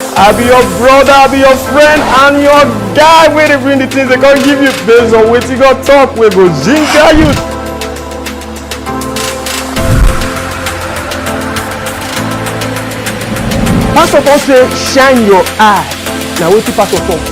I be your brother, I be your friend, and your guy wey dey bring the things they come give you based on what you got talk We go ginger you. Pastor Paul say shine your eye. Now what you pastor talk?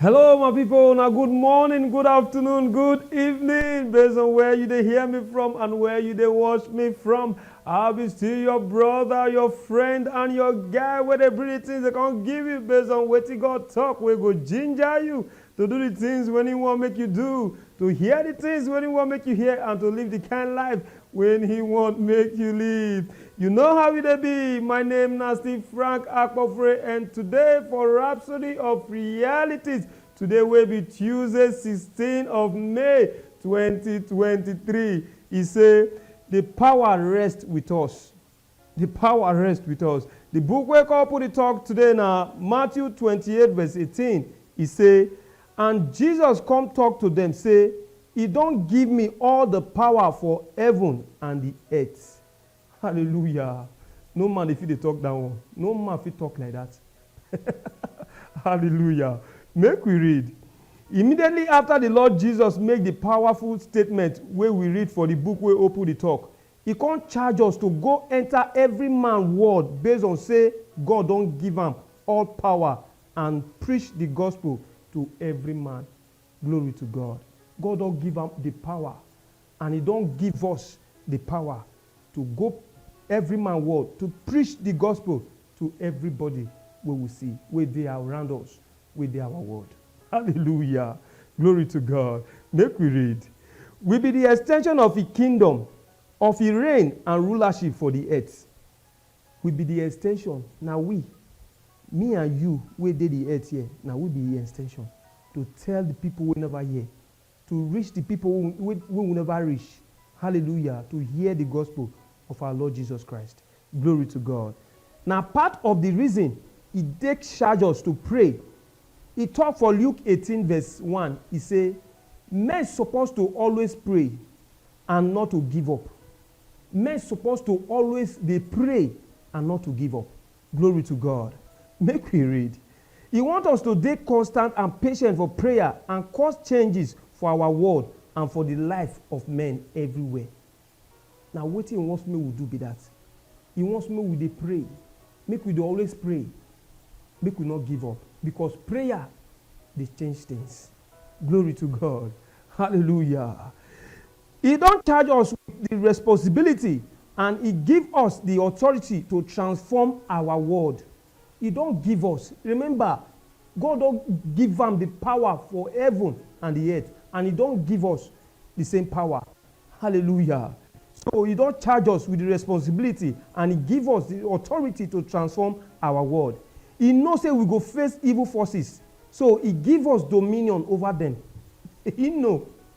Hello my people, na good morning, good afternoon, good evening based on where you dey hear me from and where you dey watch me from. I be still your brother, your friend and your guy wey dey bring the things they come give you based on wetin God talk wey go ginger you to do the things when he wan make you do, to hear the things when he wan make you hear and to live the kind life When he want make you leave. You know how e dey be, my name na Steve Frank Akpofure and today for Rhapsody of Realities, today wey be Tuesday sixteen of May twenty twenty three, e say, The power rest with us. Di pawa rest wit us. Di book wey kopu dey tok today na Matthew twenty eight vese eighteen, e sey, And Jesus kom tok to dem sey, E don give mi all di pawa for heaven and di eart. Hallelujah! No man dey fit dey tok dat one. No man fit tok like dat. Hallelujah! Make we read. Immediately afta di Lord Jesus make di pawaful statement wey we read for di book wey opu dey tok, E kon charge us to go enter every man world based on sey God don give am all power and preach the gospel to every man. Glory to God. God don give am the power and e don give us the power to go every man world to preach the gospel to everybody wey we see, wey dey around us. wey dey our world. Hallelujah! Glory to God! Make we read. We be di extension of Im kingdom, of Im reign and rulership for di earth. We be di extension, na we, me and you wey dey di earth here, na we be Im extension to tell di pipo wey neva hear To reach di pipo wey we neva reach, Hallelujah, to hear di gospel of our Lord Jesus Christ, Glory to God. Na part of di reason e take charge us to pray. E tok for Luke eighteen verse one, e say, Men suppose to always pray and not to give up. Men suppose to always dey pray and not to give up. Glory to God. Make we read. E want us to dey constant and patient for prayer and cause changes for our world and for di life of men everywhere. Na wetin e want make we do be dat. E want make we dey pray. Make we dey always pray. Make we no give up because prayer dey change tins. Glory to God. Hallelujah. E don charge us wit di responsibility and e give us di authority to transform our world. E don give us, rememba, God don give am di pawa for heaven and di earth and e don give us di same pawa. Hallelujah! So, e don charge us wit di responsibility and e give us di authority to transform our world. E know sey we go face evil forces, so e give us dominion ova dem. E know.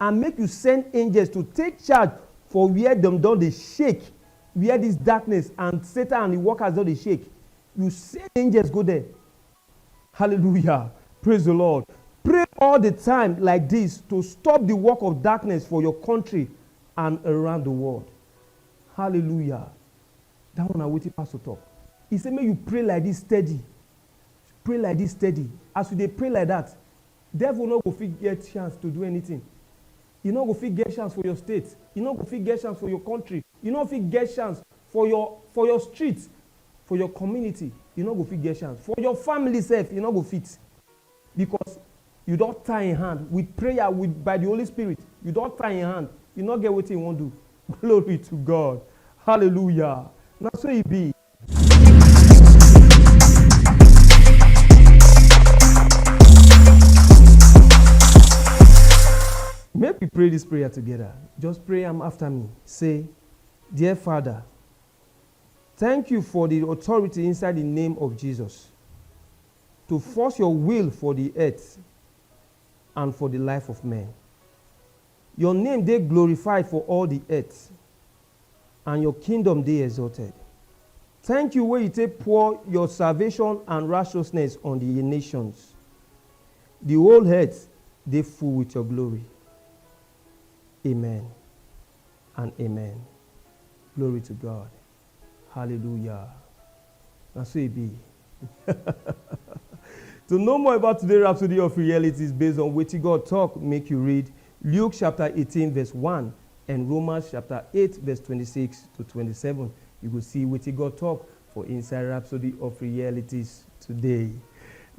And make yu send angels to take charge for where dem don dey shake, where dis darkness and Satan and e workers don dey shake. Yu send angels go there. Hallelujah! Praise di Lord! Pray all di time like dis to stop di work of darkness for yor kontri and around di world. Hallelujah! Dat one na wetin pastor tok. E sey make yu pray like dis steady. Pray like dis steady. As yu dey pray like dat, Devil no go fit get chance to do anything, e no go fit get chance for your state, e no go fit get chance for your country, e no fit get chance for your for your street, for your community, e no go fit get chance, for your family sef e no go fit because you don tie im hand with prayer with by the Holy Spirit, you don tie im hand, e no get wetin e wan do, glory to God, hallelujah, na so e be. Make we pray this prayer together. Just pray am after me. Say, Dear Father, thank you for the authority inside the name of Jesus to force your will for the earth and for the life of men. Your name dey glorified for all the earth. and your kingdom dey exalted. Thank you wey you take pour your salvation and righteousness on the nations. The whole earth dey full with your glory. Amen and amen. Glory to God. Hallelujah. Na so e be. To know more about today rhapsody of realities based on wetin God talk, make you read Luke chapter eighteen verse one and Romans chapter eight verse twenty-six to twenty-seven. You go see wetin God talk for inside rhapsody of realities today.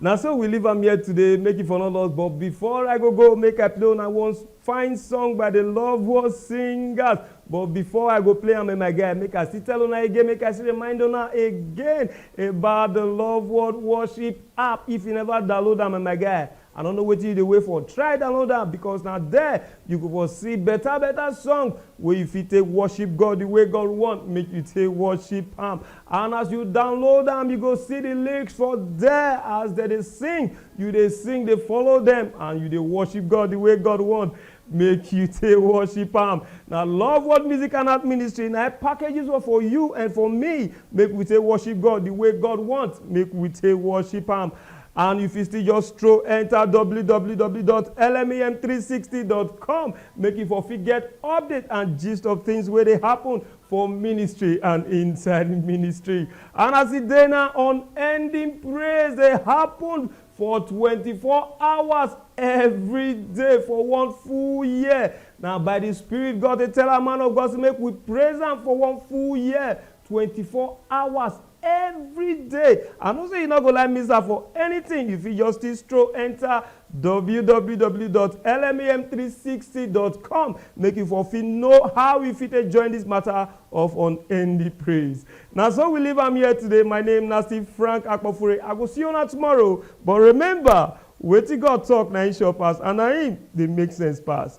Na so we leave am here today, make you for no loss. But before I go go, make I play una one Fine song by the Loveworld Singers but before I go play am eh my guy make I still tell una again make I still remind una again about the Loveworld Worship app if you never download am eh my guy I no know wetin you dey wait for try download am because na there you go for see better better song wey you fit take worship God the way God want make you take worship am And as you download am, you go see the lyrics for there as dem dey sing. You dey sing, dey follow dem, and you dey worship God the way God want make you take worship am. Na Love World Music and Art Ministry na im package this one for you and for me make we take worship God the way God want make we take worship am. And you fit still just stroll enter www.lmem360.com make you for fit get update and gist of things wey dey happen for ministry and inside ministry. And as e dey now, unending praise dey happen for 24 hours every day for one full year. Now, by the Spirit, God dey tell our man of God, say, make we praise am for one full year, 24 hours everyday I know say you no go like miss am for anything you fit just still stroll enter www.lmem360.com make you for fit know how you fit take join this matter of unending praise na so we leave am here today my name na still Frank Akpofure I go see una tomorrow but remember wetin God talk na him sure pass and na him dey make sense pass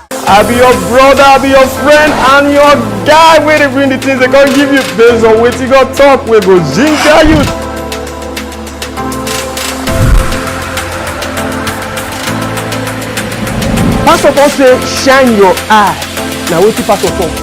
I be your brother, I be your friend, and your guy wey dey bring the things they go give you based on wetin God talk wey go ginger you. Pastor talk say shine your eye. Na wetin pastor talk.